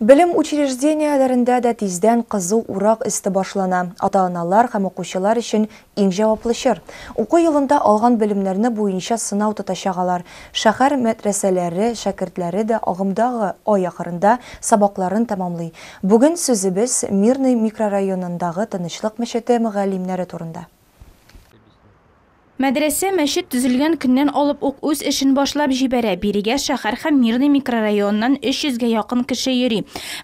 Белем учреждениеләрендә дә тиздән кызу урак өсте башлана. Ата-аналар һәм укучылар өчен иң җаваплы чор. Уку елында алган белемнәрне буенча сынау тотачак алар. Шәһәр мәдрәсәләре шәкертләре дә агымдагы ай ахырында сабакларын тәмамлый. Бүген сүзебез Мирный микрорайонындагы Тынычлык мәчете мөгаллимнәре турында. Мәдрәсә, мәчет төзелгән көннән алып ук үз эшен башлап җибәрә. Бирегә шәһәр һәм Мирный микрорайоныннан 300 гә якын кеше йөри.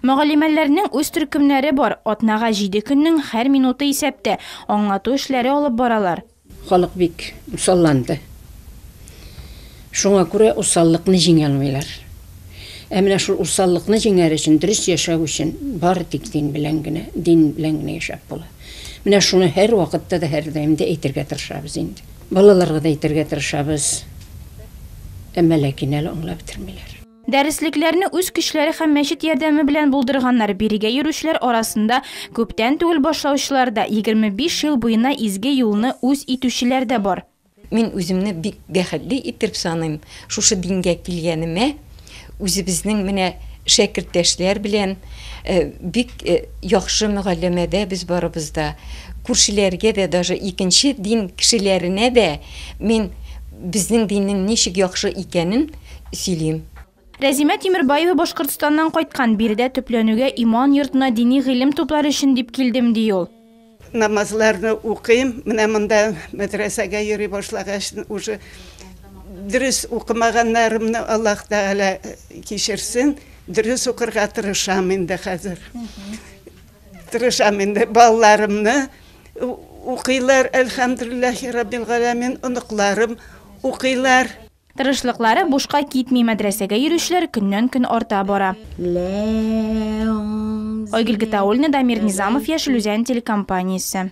Мөгаллимәләрнең үз төркемнәре бар. Атнага җиде көннең һәр минуты исәптә. Аңлату эшләре алып баралар. Халык бик усалланды. Шуңа күрә усаллыкны җиңә алмыйлар. Ә менә шул усаллыкны җиңәр өчен, дөрес яшәү өчен бары тик дин белән генә, дин белән генә яшәп була. Менә шуны һәрвакытта да, һәрдаим дә әйтергә тырышабыз инде. Балаларга да әйтергә тырышабыз, әмма ләкин әле аңлап бетермиләр. Дәреслекләрне үз көчләре һәм мәчет ярдәме белән булдырганнар, бирегә йөрүчеләр арасында күптән түгел башлаучылар да, егерме биш ел буена изге юлны үз итүчеләр дә бар. Мин үземне бик бәхетле итеп саныйм шушы дингә килгәнемә, үзебезнең менә шәкерттәшләр белән бик яхшы мөгалләмәдә без барыбыз да, күршеләргә дә, даже икенче дин кешеләренә дә мин безнең диннең ничек яхшы икәнен сөйлим. Рәзимә Тимербаева Башкортстаннан кайткан, биредә төпләнүгә иман йортына дини гыйлем туплар өчен дип килдем, ди ул. Намазларны укыйм, менә монда мәдрәсәгә йөри башлагач, уже дөрес укымаганнарымны Аллаһ Тәгалә кичерсен, дөрес укырга тырышам инде хәзер. Тырышам инде, балаларымны укыйлар, әлхәмдүлилләһи раббил галәмин, оныкларым укыйлар. Тырышлыклары бушка китми Мәдрәсәгә йөрүчеләр көннән-көн арта бара. Айгөл Гатауллина, Дамир Низамов, Яшел Үзән телекомпаниясе.